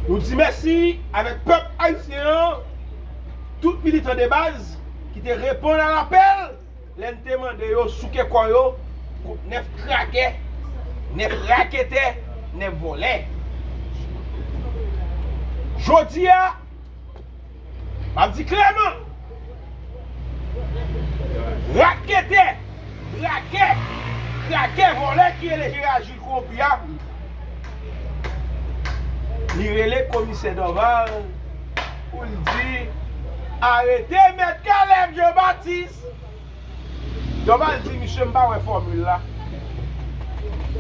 Nou di mèsi avèk pèp ayisyen an, tout militan de baz ki te reponn a lapèl lè n te mande yo souke kò yo kont 9 krakè, 9 raketè, 9 vòlè. Jodi a. Map di klèman, raketè, brakè, krakè, vòlè ki rele Gerard Jules kowonpi a, li rele komisè Dorval pou l di arete mèt Caleb Jean Baptiste. Dorval di misye m pa wè fòmil la.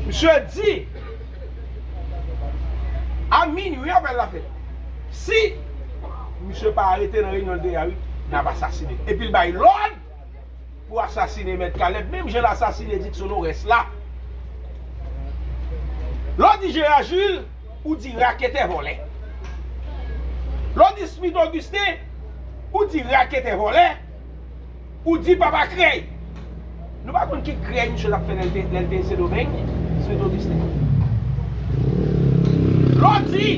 Misye di a minui apèl la fèt. Si misye pa arete nan reyinyon l te ye a wi, n ap asasine l. Epi l bay lòd pou asasine mèt Caleb menm jan l asasine Dickson Oreste la. Lè w di Gérard Jules, ou di raketè vòlè. Lè w di Smith Augustin, ou di raketè vòlè. Ou di papa krèy! Nou pa konn ki krèy misye tap fè lè l te Sendomeng, Sweet Augustin. Lè w di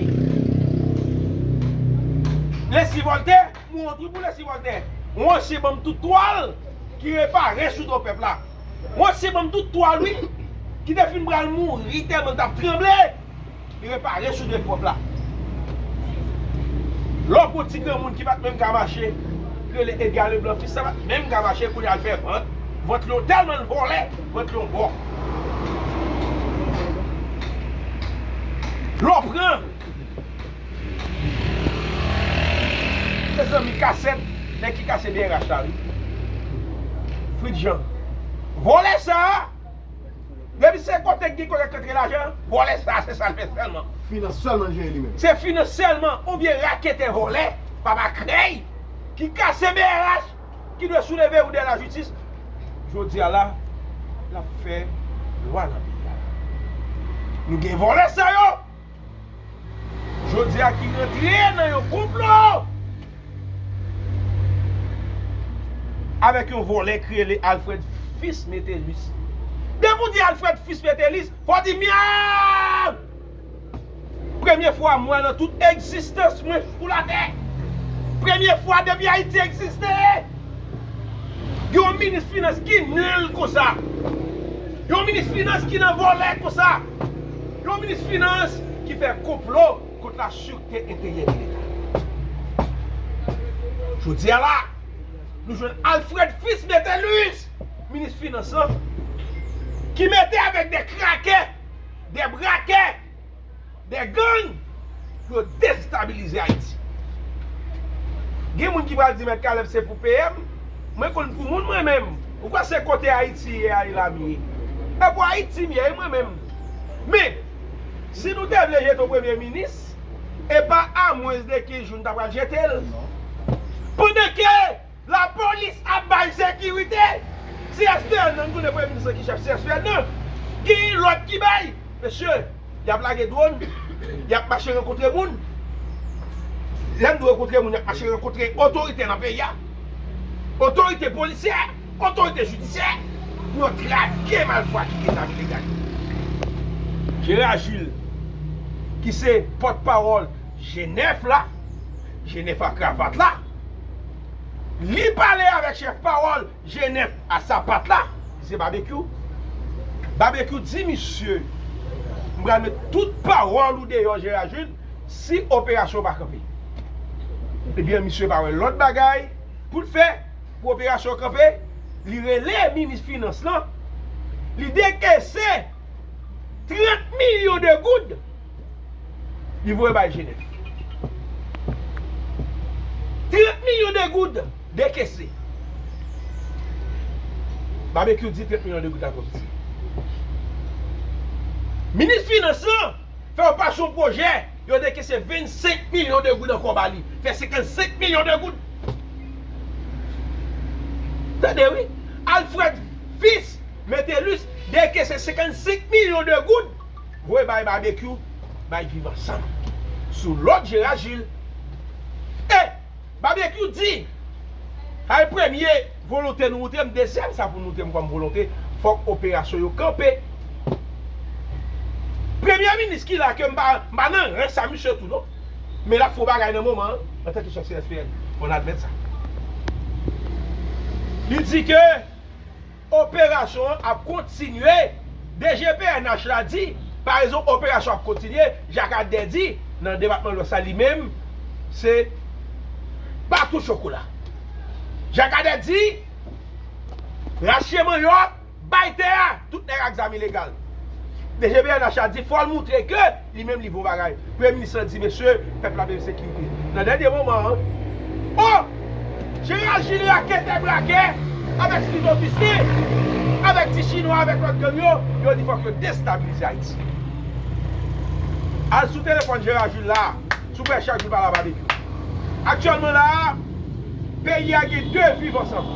Leslie Voltè, m wont wi pou Leslie Voltè. Ou ansyen banm tout twal ki repare sou do pèp la. Ou ansyen banm tout twal wi ki te fin pral mouri tèlman l tap tranble. Li repare sou de pòt la. Lè w pran ti granmoun ki pa t menm ka mache, rele Edga Leblan fis, sa pa t menm ka mache, kounye a l fè vant. Vant li yon tèlman l vole, vant li yon bò. Lè w pran mezanmi kasèt nèg ki kase brh la wi. Fritjan. Vòlè sa a! Depi se kote ki gen kolèk rantre lajan, vòlè sa a se sa l fè sèlman. Finans sèlman l jere li menm. Se finans sèlman oubyen raketè vòlè, papa krèy, ki kase brh ki dwe souleve ou dè lajitis. Jodi a la, l ap fè lwa nan peyi a. Nou gen vòlè sa yo. Jodi a ki rantre nan yon konplo avèk yon vòlè ki rele Alfred Fils Métellus. Depi w di Alfred Fils Métellus, fò w di Myaaww! Premye fwa m wè nan tout egzistans mwen sou latè, premye fwa depi Ayiti egziste, gen yon minis finans ki nul konsa, yon minis finans ki nan vòlè konsa. Yon minis finans ki fè konplo kont la sûreté intérieure de l'Etat. Jodi a la, nou jwenn Alfred Fils Métellus, minis finans lan, ki mete avèk de krakè, de brakè, de gang, pou yo destabilize Ayiti. Gen moun ki pral di mèt Caleb se pou PM, mwen konn pou moun mwen menm, ou kwè se kote Ayiti ye a e la m ye? E pou Ayiti m ye e mwen menm. Men, si nou te vle jete yon premye minis, e pa a mwens de 15 jou nou ta pral jete l. Pandan ke. La police ap bay sekirite CSPN nan, nou konnen premye minis lan ki chèf CSPN nan, genyen lòt ki bay, mesye yap lage dwòn, yap mache rankontre moun, lè m di rankontre moun yap mache rankontre otorite nan peyi a, otorite polisyè, otorite jidisyè pou yo trake malfwa ki gen zam ilegal yo. Gérard Gilles ki se pòt pawòl G9 la, G9 a kravat la, Li pale avèk chèf pawòl Jenèf a Sapat la, ki se Babekyou. Babekyou di misye, M pral met tout pawòl ou deyò Jera Jil si operasyon pa kanpe. Ebyen misye pa wè lòt bagay pou l fè pou operasyon kanpe, li rele minis finans lan, li dekese 30 milyon de goud. Li voye bay Jenèf. 30 milyon de goud dekese. Babekyou di 30 milyon de goud la twò piti. Minis finans lan fè yon paj yon pwojè, yo dekese 25 milyon de goud ankò ba li. Fè 55 milyon de goud. Tande wi! Alfred Fils Metellus dekese 55 milyon de goud. voye bay Babekyou bay viv ansanm sou lòd Jera Jil e Babekyou di Kay premye volonte nou moutrem dezyèm sa pou moutrem kòm volonte fòk operasyon yo kanpe premye minis ki la ke m pa nan ren sa misye tou non men lap fon bagay nan moman an antanke chèf CSPN fòn admèt sa li di ke. Operasyon an ap kontinye DG pnh la di pa rezon operasyon ap kontinye Jak Adè di nan depatman lwès la li menm se pa tou chokola Jak Adè di rache manyòk bay tè a tout nèg ak zam ilegal DG pnh la di fòl moutre ke Li menm li bon bagay. Premye minis lan di mesye pèp la bezwen sekirite. Nan dènye moman an. Oh! Jeneral Jili a kete brake avèk Steve Augustin, avèk ti chinwa avèk lòt gang yo, yo di fòk yo destabilize Ayiti. Al sou telefòn Jeneral Jili la, sou pè chak jou pale a Babekyou. Aktyèlman la a, peyi a gen 2 viv ansanm.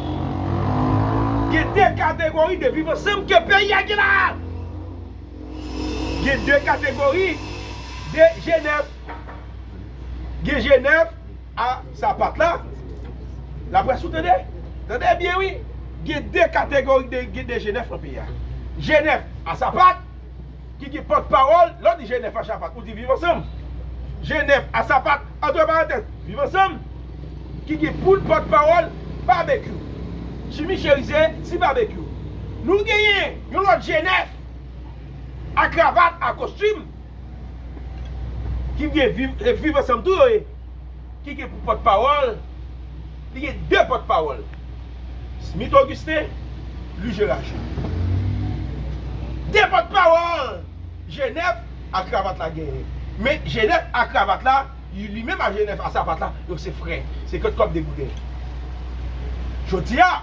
Gen 2 kategori de viv ansanm ke peyi a gen la a. Gen 2 kategori de je nèf. Gen je nèf a sapat la. Laprès ou tande? Tande byen wi. Gen 2 kategori de je nèf nan peyi a. Je nèf a sapat ki gen pòt pawòl. Lè w di je nèf a sapat ou di viv ansanm. Je nèf a sapat, antre parantèz, viv ansanm ki gen poul pòt pawòl Babekyou. Jimmy Cherizier, Ti Babekyou. Nou genyen yon lòt je nèf. a kravat, a kostim, ki gen viv ansanm tou yo ye, ki gen pou pòt pawòl, li gen 2 pòt pawòl, Smith Augustin, Louis Gérard Jules. 2 pòt pawòl Genève a kravat la genyen. Men Genève a kravat la, li menm a Genève a sapat la, yo se frè, se kòt kòb 2 gouden. Jodi a.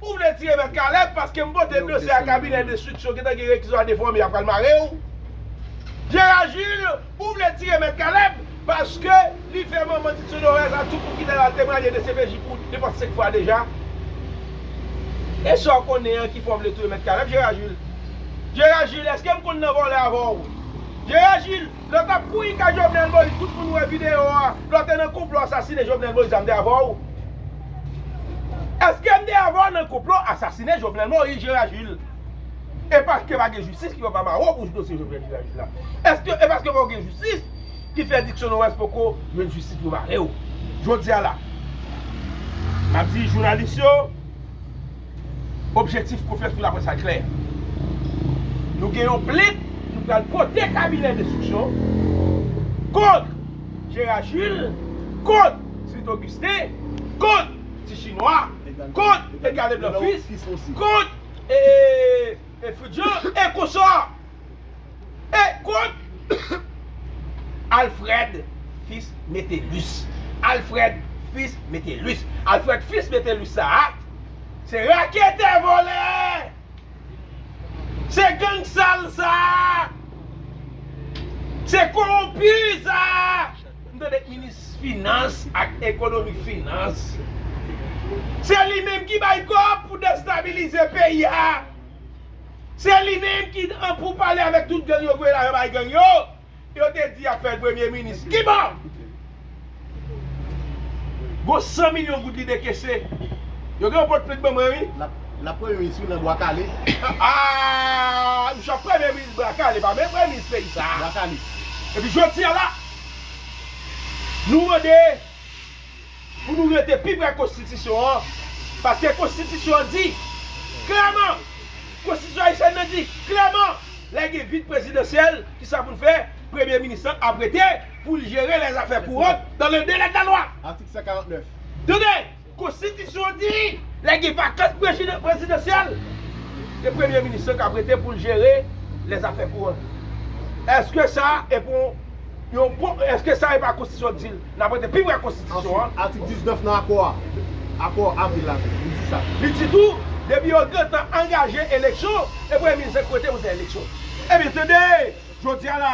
Ou vle tire mèt Caleb paske m pote dosye a kabinè de suits yo gentan gen rekizò a defòme yap pral mare w. Gérard Jules ou vle tire mèt Caleb paske li fè manman Titio Dorèz a tou pou kite l al temwanye dcpj pou depanse 5 fwa deja. E sa w konnen an ki fè w vle touye mèt Caleb Gérard Jules? Gérard Jules eske m konn nan vòlè avè w? Gérard Jules Lè tap kouri kay jovenel moïse tout moun wè video a lè w te nan konplo asasine jovenel moïse la m te avè w eske m te avè w nan konplo asasine jovenel moïse jera jules e paske pa gen jistis ki fè w pa mare w pou dosye jovenel jera jules la eske e paske pa gen jistis ki fè dickson oreste poko jwenn jistis pou mare w jodia la map di jounalis yo Objektif konfrans pou laprès la klè. Nou gen yon plent nou pral pote kabinè denstriksyon kont Gérard Jules, kont Smith Augustin, kont Ti Chinwa, kont Edgard Leblanc Fils, kont Fritz Jean, e konsò. Et kont Alfred fils Metellus Alfred fils Metellus Alfred fils Metellus sa a Se raketè volè Se gang sal sa a Se kowonpi sa a M tande minis finans ak ekonomi finans Se li menm ki bay kòb pou destabilize peyi a Se li menm ki an pou pale avèk tout gang yo voye lajan bay gang yo, yo te di yap fèl premye minis. Kibò? Gon 100 milyon goud li dekese. Yo gen yon pot plant ban mwen wi. Lap premye minis wi nan bwa kale. Aah misye ap premye minis bwa kale pa menm premye minis peyi sa. Bwa kale. Epi jodi a la nou mande. Pou nou rete pi pre konstitisyon an, paske konstitisyon an di klèman, konstitisyon ayisyèn nan di klèman lè gen vid prezidansyèl ki sa pou l fè, premye minis lan ap rete pou l jere lè zafè kourant dan le delè de la lwa. Atik 149. Tande, konstitisyon an di lè gen vakans prezidansyèl, se premye minis lan k ap rete pou l jere lè zafè kourant. Eske sa e pou yon bon, eske sa e pa konstitisyon k di l? N ap rete pi pre konstitisyon an. Answit, atik 19 nan akò a, akò avril la tou, li di sa. Li di tou, depi yo gentan angaje eleksyon, e premye minis se kote pou fè eleksyon. Ebyen tande, jodi a la,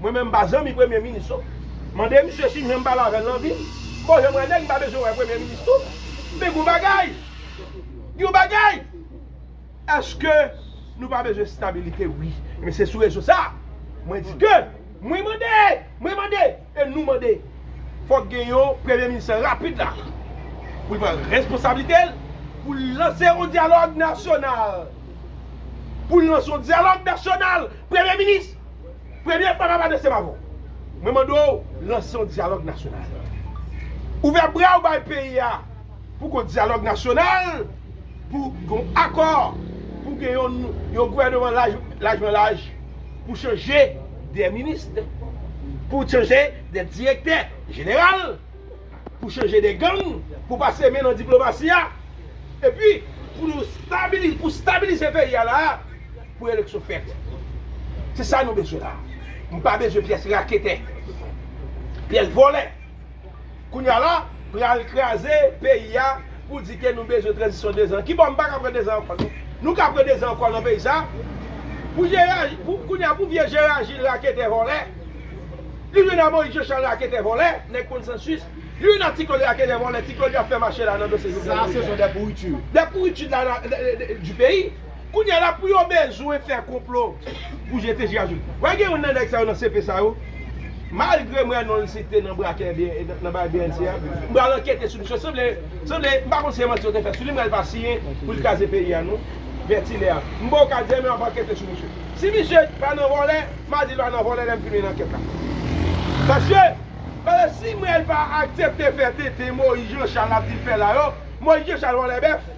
mwen menm m pa zanmi premye minis non. Mande misye si m janm pale avè l nan vi m. Bon jan m wè nèg, m pa bezwen wè premye minis tou. Men gen yon bagay, gen yon bagay! Eske Nou pa bezwen stabilite wi men se sou rezo sa mwen di ke mwen mande mwen mande e nou mande fok gen yon premye minis rapid la pou l pran responsablite l pou l lanse yon dyalog nasyonal pou l lanse yon dyalog nasyonal premye minis premye fwa map adrese m avèw mwen mande w lanse yon dyalog nasyonal ouvè bra w bay peyi a. pou kont dyalòg nasyonal, pou gen yon akò, pou gen yon gouvèneman lajmanlaj, pou chanje de minist, pou chanje de direktè jeneral, pou chanje de gang, pou pase men nan diplomasi a, epi pou nou stabilize, pou stabilize peyi a la a, pou eleksyon fèt. Se sa nou bezwen la a. Nou pa bezwen pyès raketè, pyès vòlè. Kounya la pral kraze peyi a pou di ke nou bezwen tranzisyon 2 zan. Kibò m pa ka pran 2 zan ankò non. Nou ka pran 2 zan ankò nan peyi sa. Pou Jera, kounya pou vye Jera Jil raketè vòlè, li jwenn a Moyiz Jochal raketè vòlè, nèg konsansis, li jwenn a Ti Klod raketè vòlè, Ti Klod y ap fè mache la nan dosye Jovenel Moyiz la. Sa se son dè pouritu. Dè pouritu de la, du peyi. Kounya la pou yo bezwen fè konplo pou jete Jira Juli. Wè gen youn nan nèg sa yo nan CP sa yo, malgré m wè non l site nan brakè nan bagay bnc a, m pral ankete sou misye sanble sanble m pa konn si se manti yo te fè sou li men li pa siyen pou l kraze peyi a non vèti lè a. M ba w ka di anyen men wap ankete sou misye. Si misye pa nan vòlè, m a di l pa nan vòlè lè m fini ankèt la. Paske paske si Mrel pa aksepte fè tenten Moyiz Janchal ap di l fè la yo, Moyiz Janchal vòlè bèf.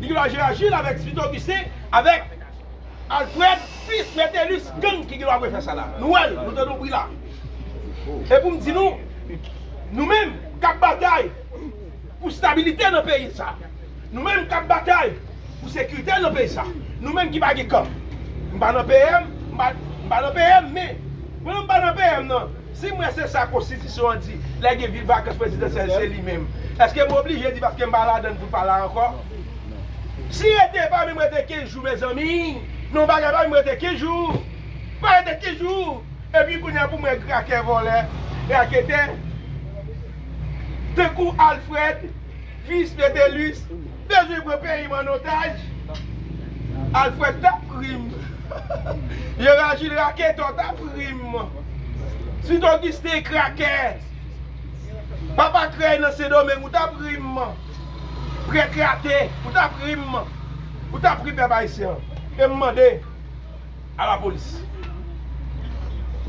Michelangela Jules avèk Smith Augustin avèk Alfred fils Metellus gang ki gendwa bwè fè sa la. Nou wè l, nou tande yon bri la. E pou m di nou, nou menm k ap batay pou stabilite nan peyi sa, nou menm k ap batay pou sekirite nan peyi sa, nou menm ki pa gen kan. M pa nan PM, m pa nan PM men pandan m pa nan PM nan, Si mwen se sa konstitisyon an di lè gen vil vakans prezidansyèl se li menm eske m oblije di paske m pa ladann pou pa la ankò? Si rete e pa menm rete 15 jou mezanmi non bagay pa menm rete 15 jou pa rete 15 jou epi kounye a pou mwen krakè vòlè raketè tankou Alfred fils Métellus Bezwen pran peyi m an otaj. Alfred tap ri m. Jera Jil raketò tap ri m. Sweet Augustin krakè. Papa krèy nan Sendomeng ou tap ri m. Prèt rate ou tap ri m. Ou tap ri pèp ayisyen. E m mande a lapolis.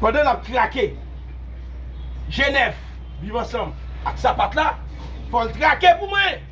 Pandan nap trake Jenèf viv ansanm ak sapat la fò l trake pou mwen.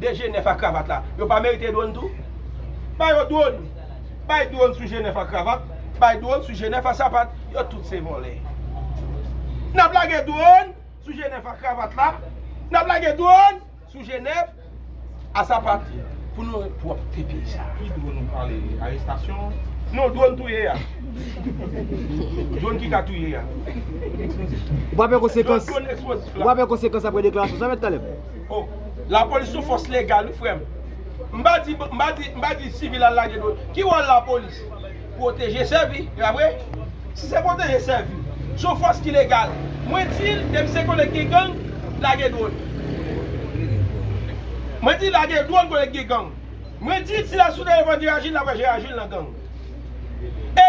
de G9 ak kravat la yo pa merite dwon tou? Ba yo dwon! Bay dwon sou G9 ak kravat, bay dwon sou G9 ak sapat, yo tout se vòlè. N ap lage dwon sou G9 ak kravat la, n ap lage dwon sou G9 ak sapat pou nou pwòpte peyi sa. Ki dwon ou pale? Arestasyon an? Non, dwon touye a. Dwon ki ka touye a. Ou pa pè konsekans? Dwon eksplozif la. Ou pa pè konsekans apre deklarasyon sa, Mèt Kaleb? Oh la police son fòs legal wi frèm m pa di m pa di m pa di sivil al lage dwòl ki wòl la police pwoteje sèvi e pa vre si se pwoteje sèvi son fòs ki legal mwen dil depi se kote k gen gang lage dwòl mwen di lage dwòl kote k gen gang mwen dil si la sou telefòn Gérard Gilles la wè Gérard Gilles nan gang e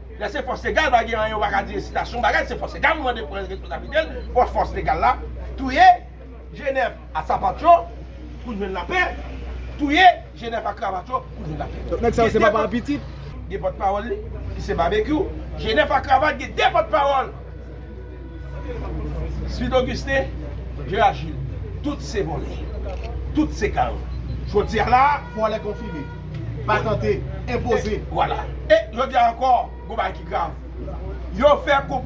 Lè se fòs legal pa gen anyen ou pa ka di ensitasyon bagay se fòs legal ou mande pran responsablite l fòs fòs legal la touye Jenèf a sapat yo pou n jwenn lapè touye Jenèf a kravat yo pou n jwenn lapè Donk nèg sa yo se papa ak pitit? Gen pòt pawòl li ki se Babekyou Jenèf a kravat gen 2 pòt pawòl Smith Augustin Gérard Gilles tout se vòlè tout se karòt Jodi a la vòlè konfime. patante, enpoze. Vwala. E, jodi a ankò, gwo bagay ki grav. Yo fè konplo.